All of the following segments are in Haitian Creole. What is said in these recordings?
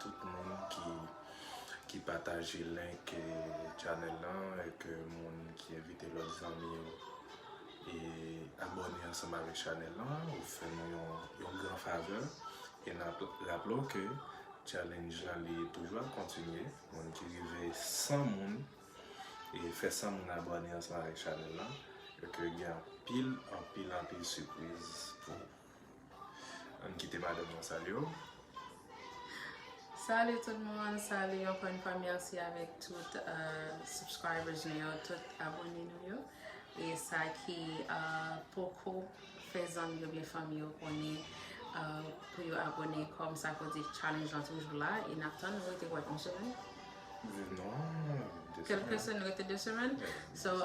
Tout moun ki ki pataje link channel lan et ke moun ki envite lòt zanmi yo e abòne ansanm avèk channel lan ou fè nou yon gran favè e nap raple w ke challenge lan li toujou ap kontinye moun ki rive 100 moun e fè 100 moun abòne ansanm avèk channel lan e ke gen anpil anpil anpil sipriz pou ou. Ann kite madanm nan salye yo. Salut tout moun, salut ankò yon fwa merci avèk tout subscribers nou yo, tout abone nou yo e sa ki poko fè zanmi yo byen fanmi yo konnen pou yo abone kòm sa vle di challenge lan toujou la e nap tann nou rete wè yon semèn kelke semèn rete 2 semèn so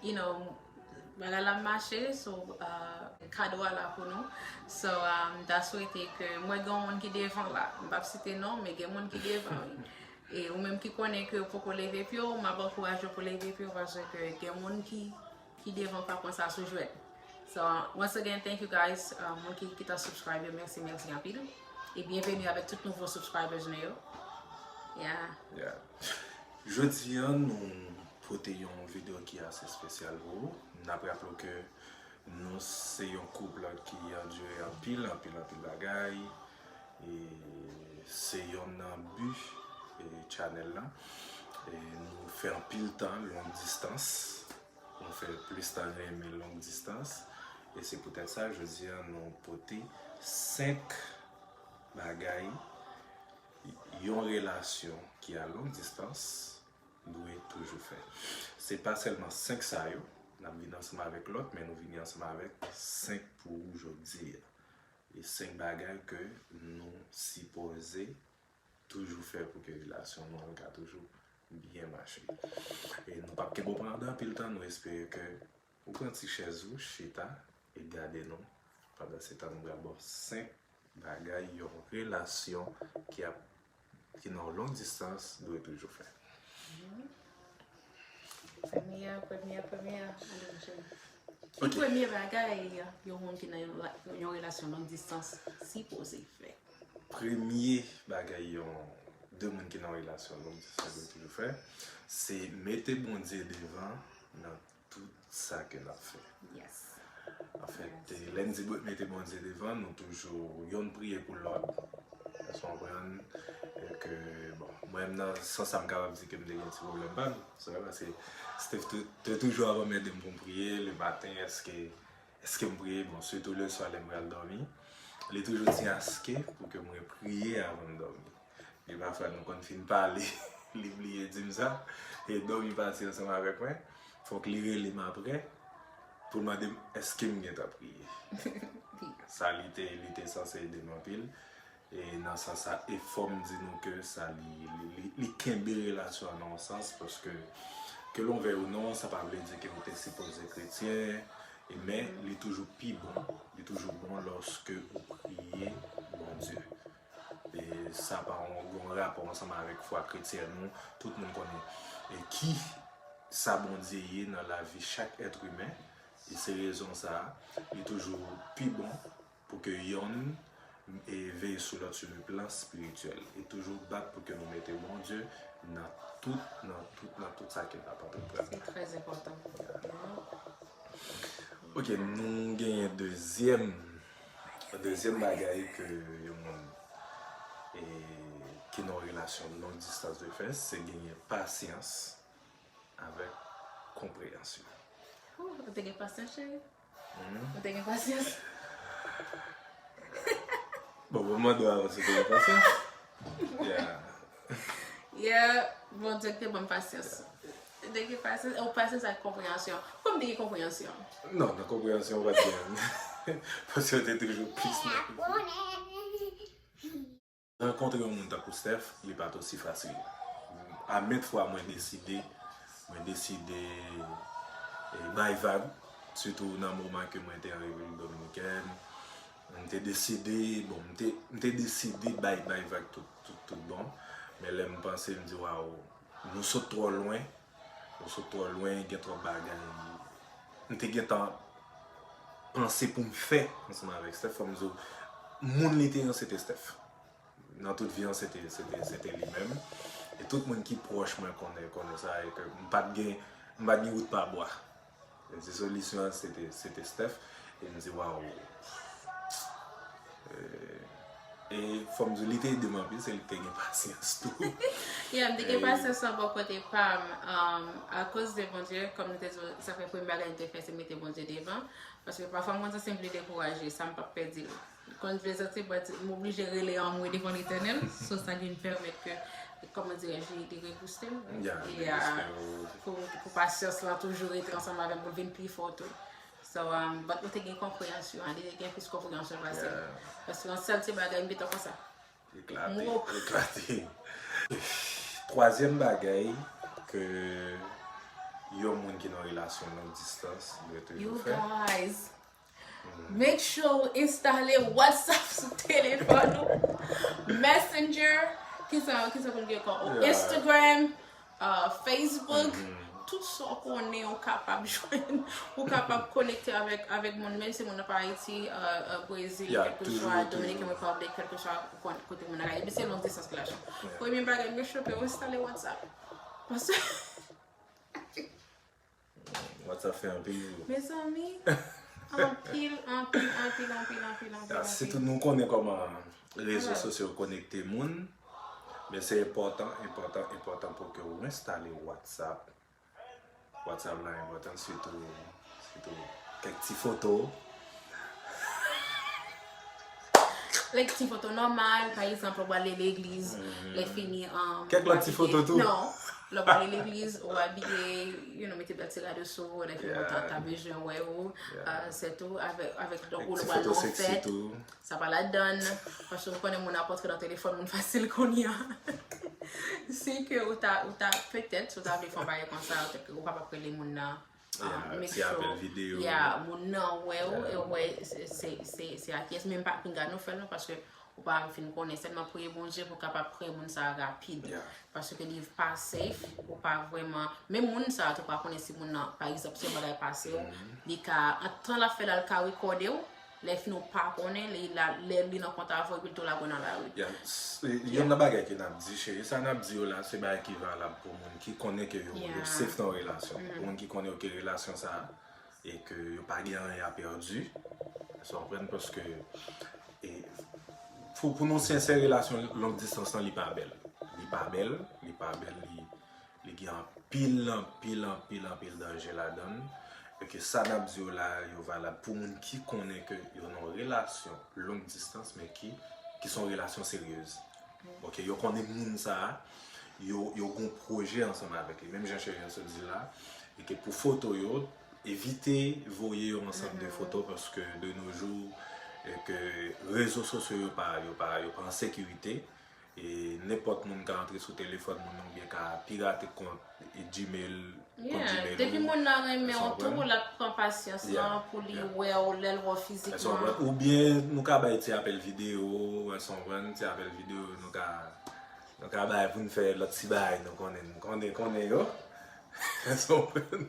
You know bagay la mache so kado a la pou nou so m ta swete ke m wè gen yon moun ki devan la m pap site non men gen moun ki devan wi e ou menm ki konnen ke yo poko leve pye yo m ap ankouraje yo pou leve pye yo pase ke gen moun ki ki devan pa pran sa sou jwèt so once again thank you guys moun ki ki ta subscribe yo mèsi mèsi anpil e byenveni avèk tout nouvo subscribers nou yo yeah yeah Jodi an nou pote yon video ki ase espesyal pou ou. Nap raple w ke nou se yon couple ki andure anpil, anpil, anpil bagay. E se yonn nan bi channel lan. E nou fè anpil tan long distans. Nou fè plis tan renmen long distans. E se pou tèt sa jodi an nou pote 5 bagay. Yon relasyon ki a long distans dwe toujou fè. Se pa sèlman 5 sa yo, n ap vini ansanm avèk lòt, men nou vini ansanm avèk 5 pou ou jodi a. E 5 bagay ke nou sipoze toujou fè pou ke relasyon nou an ka toujou byen mache. E nou p ap kenbe w pandan anpil tan, nou espere ke Ou pran ti chèz ou chita e gade nou pandan se tan nou pral ba w 5 bagay yon relasyon ki ap ki nan long distans dwe toujou fè. Premye premye premye Ki premye bagay yon moun ki nan yon relasyon long distans sipoze fè? Premye bagay yon 2 moun ki nan relasyon long distans dwe toujou fè se mete Bondye devan nan Tout sa ke nap fè. Yes. Anfèt, lè n di mete Bondye devan, nou toujou yonn priye pou lòt. Èske w konprann? Ke, bon, mwen menm nan sans sa m kapab di ke m te gen ti pwoblèm pa m. Se vre paske Steve te toujou ap anmède m pou m priye le maten èske, èske m priye? Bon, sitou le swa lè m pral dòmi, li toujou di aske pou ke mwen priye avan m dòmi. Men pafwa nou konn fin pale li bliye di m sa, e dòmi pati ansanm avèk mwen, fòk li rele m aprè pou l mande m èske m gentan priye. Sa li te li te sanse ede m anpil, e nan sans sa e fò m di nou ke sa li kenbe relasyon an nan yon sans paske ke l on vèy ou non sa pa vle di ke ou te sipoze kretyen e men li toujou pi bon, li toujou bon lòske ou priye Bondye Sa pa gen rapò ansanm avèk fwa kretyèn nou. Tout moun konnen ki sa Bondye ye nan lavi chak èt imen. E se rezon sa a, li toujou pi bon pou ke yonn veye sou lòt sou le plan espirityèl. E toujou bat pou ke nou mete Bondye nan tout, nan tout, nan tout sa ke n ap antreprann. Se trè enpòtan. Ok, nou genyen dezyèm. Dezyèm bagay ke yon moun ki nan yon relasyon long distans dwe fè, se genyen pasyans avèk konpreyansyon. Ooh, ou te gen pasyans cheri? Ou te gen pasyans? Bon, mwen mande w avan si w te gen pasyans. Yeah. Yeah, Bondye ki te ban m pasyans. Te gen pasyans, ou pasyans ak konpreyansyon. Poukò m te gen konpreyansyon? Non, nan konpreyansyon ou pa t gen. Paske ou te toujou plis nan plis. Rankontre yon moun tankou Steph, li pa t osi fasil. A mèt fwa mwen deside, mwen deside bay vag, sitou nan moman ke mwen te an Repiblik Dominikèn. M te deside, bon, m te, m te deside bay, bay vag tout, tout, tout bon. Men lè m panse, m di waw, nou sot twò lwen, nou sot twò lwen, gen twòp bagay m te gentan panse pou m fè ansanm avèk Steph. Fò m di w, moun li te an se te Steph. Nan tout vi an se te, se te, se te li menm. E tout moun ki pwòch mwen konnen, konnen sa e ke m pa t gen, m pa t gen wout pa bwa. Li di solisyon an se te Steph e m di waw. E fò m di w li te ede m anpil se li ki te gen pasyans tou. Yeah m te gen pasyans lan bò kote pa m akoz de Bondye kòm m te di w sa fè premye bagay m te fè se mete Bondye devan paske pafwa m konn santi m vle dekouraje sa m pap pè di l. Li konn dwe santi l, pati m oblije rele anmwe devan Letènèl, so sa vin pèmèt ke, kòman dirè je, li te rebouste m, e a, pou, pou pasyans lan toujou rete ansanm avè m pou l vin pi fò tou. So, but mwen te gen konpreyansyon an, li te gen plis konpreyansyon pase m. Paske yon sèl ti bagay m gentan konsa. M wo. Eklate, eklate. Twazyèm bagay ke yon moun ki nan relasyon long distans dwe toujou fè. You guys! Make sure ou installe WhatsApp sou téléphone ou. Messenger, ki sa ki sa pou gen kon ou. Instagram, uh, Facebook, mm -hmm. tout sa so konnen ou kapab jwenn, ou kapab konekte avèk avèk moun men se moun ap Haïti, uh, uh, Brésil, yeah, quelque soit Dominican Republic, quelque soit kote moun ala. Epi se long distance ki la chan. Yeah. Premye bagay, make sure que ou installe WhatsApp. Parce Whatsapp fè anpil jou. Mezanmi, anpil, anpil, anpil, anpil, anpil, anpil. Si tout moun konnen kòman rezo sosyo konekte moun, men se enpòtan, enpòtan, enpòtan pou ke ou enstale Whatsapp. Whatsapp la enpòtan sitou, sitou kèk ti foto. Like ti foto nòmal, pa egzanp lè w ale legliz, lè fini an. Kèk lòt ti foto tou. Non, lè w ale legliz, ou abiye, you know, mete bèl ti rad ou sou ou, lè fini yo ta ta bezwen wè ou, se tou, avèk, avèk lè w ale nan yon fèt, sa pa ladann, paske ou konnen moun ap antre nan telefòn moun fasil kounye a. Si ke ou ta, ou ta, petèt, si w ta vle fè yon bagay konsa, ou pa t ap rele moun nan. Make sure, yeah, moun nan wè ou, e wè se a kiyès, menm pa pinga nou fèl non, paske ou pa vin konnen, sèlman priye Bondye pou kapab pre moun sa rapid, paske li pa safe, ou pa vwèman, menm moun sa tou pa konnen si moun nan, pa egzanp si yon bagay pase ou, li ka, antan la fèl al ka rekòde ou, Lè fno pa konnen li la lè li nan kont avw epil tou lagw nan lari. Yeah Youn nan bagay ke nap di cheri sa nap di yo la se bagay ki valab pou moun ki konnen ke yo safe nan relasyon pou moun ki konnen yo ke relasyon sa e ke yo pa gen anyen a perdi esw konprann paske e pou nou sensè relasyon long distans lan li pa bèl li pa bèl li pa bèl li Li gen anpil, anpil, anpil, anpil danje ladann e ke sa nap di yo la a yo valab pou moun ki konnen ke yo nan yon relasyon long distans men ki ki son relasyon seryez. Ok, yo konnen moun sa a, yo yo gon pwojè ansanm avèk li menm jan Cheri an sot di la a e ke pou foto yo evite voye yon ansanm de foto paske de no jou e ke rezo sosyo yo pa yo pa yo pa an sekirite. e nenpòt moun ka antre sou telefòn moun nan oubyen ka pirate kont Gmail kont Gmail ou. Depi moun nan renmen ou tou l ap pran pasyans lan pou li wè ou lè l wè w fizikman. Èske w konprann? Oubyen nou ka bay ti apèl videyo, èske w konprann? Ti apèl videyo nou ka nou ka bay pou n fè lòt ti bagay nou konnen konnen konnen yo. Èske w konprann?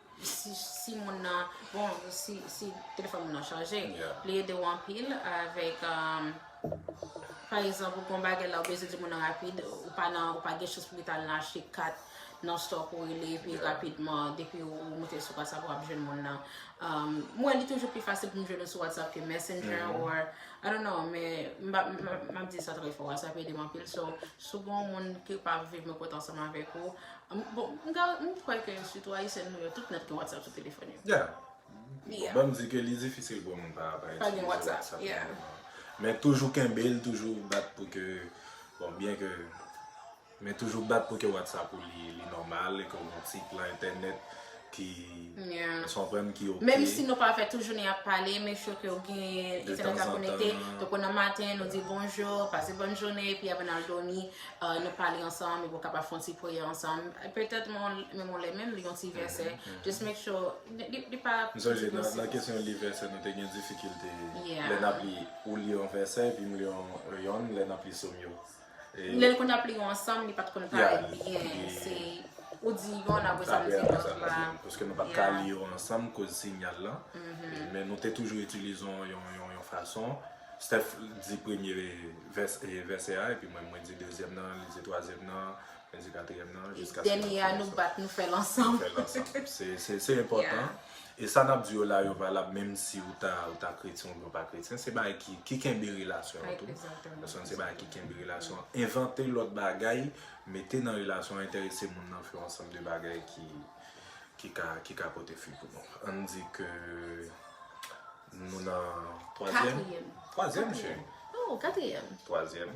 si moun nan bon si telefòn moun nan chanje li ede w anpil avèk pa egzanp ou gon bagay la ou bezwen di moun nan rapid ou pa nan ou pa gen chans pou ki ta al nan achte kat nan stò pou rele epi rapidman depi ou moute sou WhatsApp wap jwenn moun nan m wè li toujou pi fasil pou m jwenn ou sou WhatsApp ke Messenger or I don't know m ap di sa trè fò sa ap ede m anpil so si w gen yon moun ki pa viv nan kòt ansanm avèk ou Bon, m ta, m kwè ke sitou Ayisyen nou yo, tout nèt gen WhatsApp sou telefòn yo. Yeah. Yeah. Bon, m di ke li difisil pou moun pa, pa itilize WhatsApp. Pa gen WhatsApp, yeah. Men toujou kenbe l, toujou bat pou ke, bon, byen ke, men toujou bat pou ke WhatsApp ou li, li nòmal, e ke w gen site lan entènèt. Menm si nou pa fè tou jounen ap pale, make sure ke ou gen internet la konekte, to kon nan maten nou di bonjour, pase bonne journée, epi avan nal domi nou pale ansanm, epi ou kapab fè yon ti priyè ansanm, petèt menm yon lè menm li yon ti vèsè, just make sure li pa. M sonje nan kesyon li vèsè nou te gen difikilte lè nap li ou li yon vèsè epi m li yon lè nap li som yo. Lèl konn ap li yo ansanm li pat konn parèt byen se ou di yon la pwesa nou di lòt la. Paske nou pat ka li yo ansanm koz sinyal lan. Men nou te toujou itilize yon fason. Steph di premye vèsè a epi mwen mwen di dezyèm nan li di twazyèm nan. Mèsi katriyèm nan jiskaske nap fini sa. Dènye a nou bat nou fèl ansanm. Nou fèl ansanm. Se enpòtan. E sa nap di yo la yo valab menm si ou ta ou ta kretyen oubyen ou pa kretyen. Se bagay ki ki kenbe relasyon an tou. Paske se bagay ki kenbe relasyon an. Envante lòt bagay mete nan relasyon an enterese moun nan fè yon ansanm de bagay ki ki ka ki ka pote fwi pou nou. Ann di ke nou nan twazyèm. Katriyèm. Twazyèm cheri. Oh katriyèm. Twazyèm.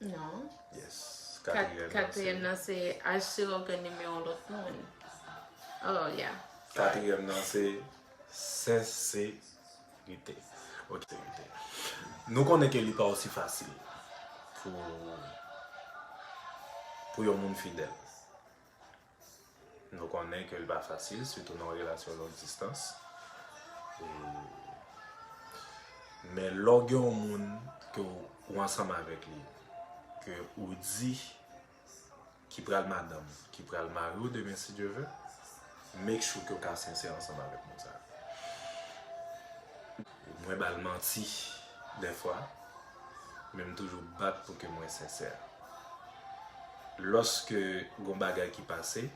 Non. Yes. Katriyèm nan se. Katriyèm nan se aj se ògàn nimewo lòt moun. Oh yeah. Katriyèm nan se senserite. Ok. Nou konnen ke li pa osi fasil pou pou yon moun fidèl. Nou konnen ke li pa fasil, sitou nan yon relasyon long distans. Men lè w gen yon moun ke w ansanm avèk li, ke ou di ki pral madanm ou, ki pral mari ou demen si Dye ve, make sure ke w ka sensè ansanm avèk moun sa. Mwen ba l manti dèfwa. men m toujou bat pou ke mwen sensè. Lòske gon bagay ki pase,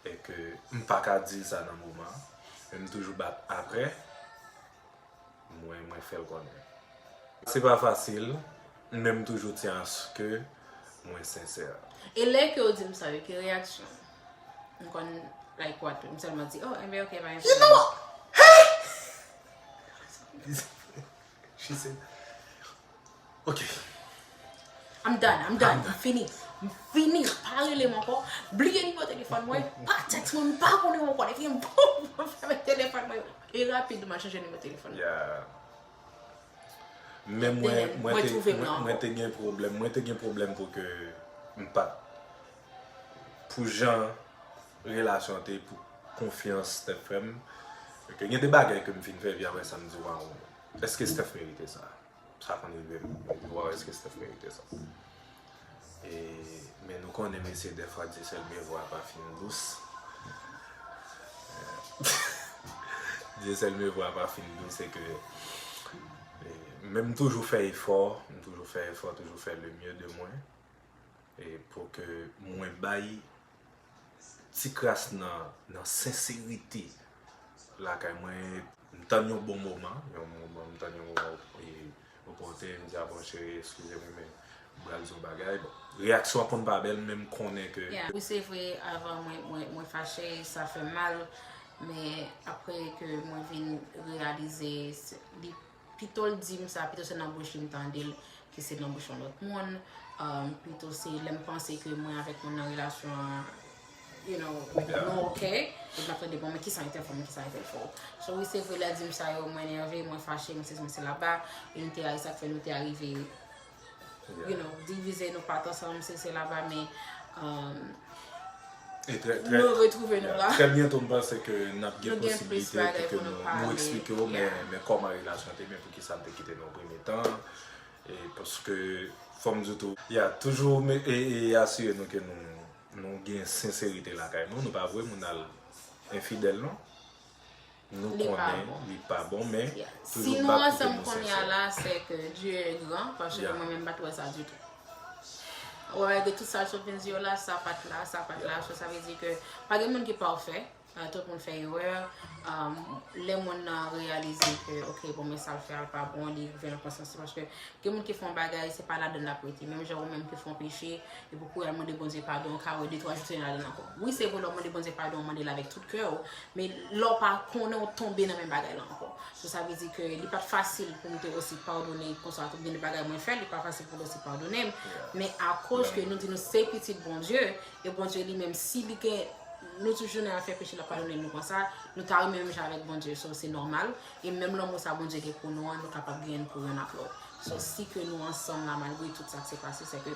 e ke m pa ka di l sa nan moman an, men m toujou bat aprè, mwen mwen fè l konnen. Se pa fasil, men m toujou tyen aske mwen sensè. E lè ke w di m sa yo, ki reyaksyon w? M konn like what tou, m sèlman di, oh, enben ok, pa gen pwoblèm. You know what? Hee! She said Ok I'm done, I'm done, m fini M fini, pa rele m ankò Bliye nimewo telefòn mwen Pa text mwen, m pa konnen ou ankò Epi m poum, m fèmen telefòn mwen E rapid m al chanje nimewo telefòn Yeah Men mwen, mwen te gen pwoblèm Mwen te gen pwoblèm pou ke m pa t pou jan relasyon an te ye pou konfyans Steph fè m ok gen de bagay ke m fin fè epi aprè sa m di waw èske Steph merite sa sa konn rive m m di waw èske Steph merite sa e men nou konnen mesye dèfwa di sèl men vwa pa fin dous di sèl men vwa pa fin dous se ke men m toujou fè efò m toujou fè efò toujou fè le mye de mwen e pou ke mwen bay ti kras nan nan senserite lakay mwen m tann yon bon moman yon moman m tann yon moman e ou pote m di a bon cheri eskize m men m pral di w bagay bon reyaksyon an konn pa bèl men m konnen ke wi se vre avan mwen mwen fache sa fè m mal men apre ke mwen vin reyalize li Pitol dim sa pito se nan bouch li m tandel ke se nan bouch yon lot moun pito se lem panse ke mwen avek moun nan relasyon an you know nou ok epi map tande bon men kisa entel fè mwen kisa entel fè w so wi se vre lè dim sa yo mwen nève mwen fache mwen sezi mwen sela ba e nou te a esak fè nou te arive you know, divize nou pat ansanm se se la ba men nou retrouve nou la. Trè byento m panse ke n ap gen posibilite pou ke nou eksplike ou men kòman relasyon te men pou ki sa n te kite nan premye tan e paske fò m di tou ya toujou e asire nou ke nou gen senserite lakay nou, nou pa vwe moun al enfidèl non. Nou konnen li pa bon men toujou bak kote nou sensè. Si nou ansanm kounye a la se ke Dieu est grand paske mwen menm m pa t wè sa ditou. Wè wè de tout sa Chopin di yo la sa pa t la, sa pa t la, so sa vle di ke pa gen moun ki pafè, tout moun fè erè, lè moun nan reyalize ke ok bon men sa l fè a l pa bon li rive nan konsyans li paske gen moun ki fè yon bagay se pa ladan l l ap rete menm jan ou menm ki fè yon peche Epi pou al mande Bondye padon, ou ka wè de twa jou Senyè a ladann ankò. Wi se vre lè w mande Bondye padon ou mande l avèk tout kè w, men lè w pa konnen ou tonbe nan menm bagay la ankò. So sa vle di ke li pat fasil pou m te osi padone konsa tou gen de bagay mwen fè li pa fasil pou l osi padone m, men akoz ke nou di nou se pitit Bondye e Bondye li menm si li gen nou toujou nan afè peche l ap padone nou konsa, nou ta renmen menm jan avèk Bondye so se nòmal e menm lanmou sa Bondye gen pou nou an nou kapab genyen l pou youn ak lòt. So si ke nou ansanm la malgre tout sa k se pase se ke.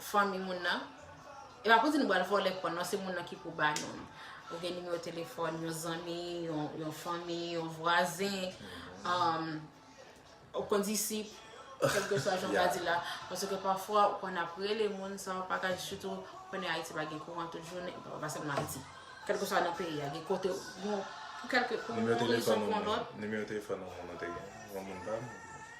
fanmi moun nan e pa pou di nou bal vòlè kò non se moun nan ki pou ba nou li ou gen nimewo telefòn yon zanmi yon fanmi yon vwazen um, ou kon disip kelke swa jan pa di la pwese ke pafwa ou kon ap rele moun sa ou pa ka di sitou konnen Haiti pa gen kouran tout jounen pa se map di kelke swa nan peyi a gen kote ou nimewo telefòn ou moun nan te gen yon moun pa m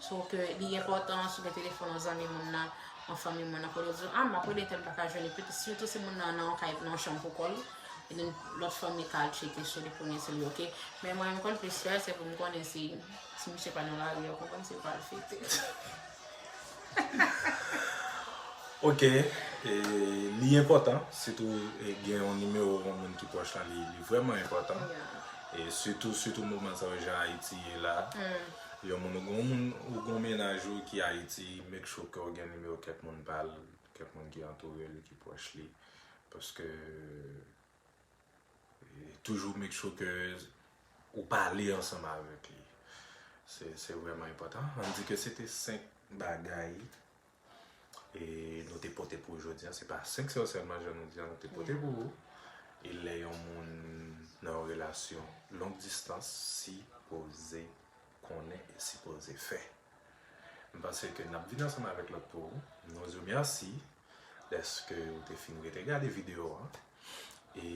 So ke li enpòtan si w gen telefòn yon zanmi moun nan, yon fanmi moun nan, pou yo di w, a m ap rele tèl m pa ka jwenn li, pwete sitou si moun nan nan yon kay, nan yon chanm pou kò l, e den lòt fanmi ka al tcheke sou li pou wè si li ok. Men mwen m konn plis fè, se pou m konnen si ti misye pa nan lari a, ou konprann, si l pa al fete. Ok, li enpòtan, sitou gen yon nimewo yon moun ki pwòch lan, li vrèman enpòtan, sitou sitou moman sa yo jan Ayiti ye la. Yon moun ou gon moun ou gon mennaj ou ki ayiti make sure kew gen nimewo kèk moun pal kèk moun ki antourel ki pwòch li paske toujou make sure ke ou pale ansanm avèk li se se vrèman enpòtan an di ke se te 5 bagay E nou te pote pou ou jodi an, se pa 5 sè sèlman jan nou di an nou te pote pou ou. E lè yon moun nan yon relasyon long distans si poze konnen e si poze fè. M panse ke nap vin ansanm avèk lòt pou ou. Nou di ou mèsi dèske ou te fin rete gade videyo an. E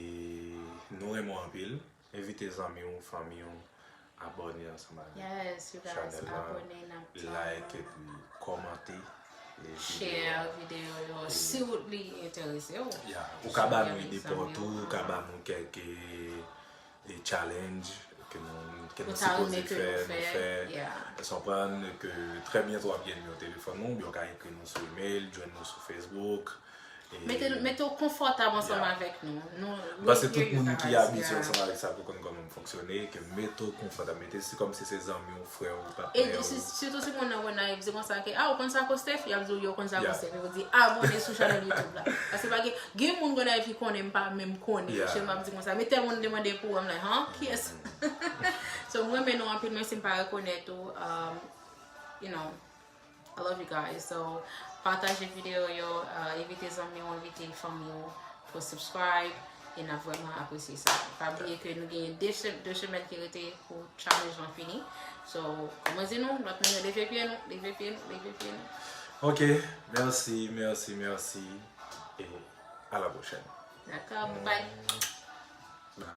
nou renmen w anpil. Envite zanmi w, fanmi w abòne ansanm avèk chanèl la, like epi kòmante videyo yo. Ou ka ba nou ide paw tou, ou ka ba nou kèk challenge ke nou sipoze fè, nou fè. Ou konprann ke trè byento w ap gen nimewo telefòn nou, ou byen ou ka ekri nou sou email, jwenn nou sou Facebook. Mete w konfòtab ansanm avèk nou. Paske tout moun ki abitye ansanm avèk sa pou konn kòman m fonksyone, ke mete w konfòtab, mete se kòmsi se zanmi w, frè w, patnè w. E sitou si moun nan Gonayiv, se konsa ke, a ou konn sa kou Steph? Y ap di w, yo konn sa kou Steph. Yo pou di, abone sou chanèl YouTube la. Paske pa gen, gen moun Gonayiv ki konnen m pa menm konnen yo. Se m ap di konsa. Men tèl moun demande pou ou, m like, han? Kiyès? So m renmen nou anpil menm si m pa rekonèt ou, you know. I love you guys so pataje video yo envite zanmiw envite fanmiw pou subscribe e nap vreman apresye sa pa bliye ke nou gen 2 semèn ki rete pou challenge lan fini so kòman di nou lòt moun yo leve pye nou leve pye nou leve pye nou ok merci merci merci e a la prochèn daka bye bye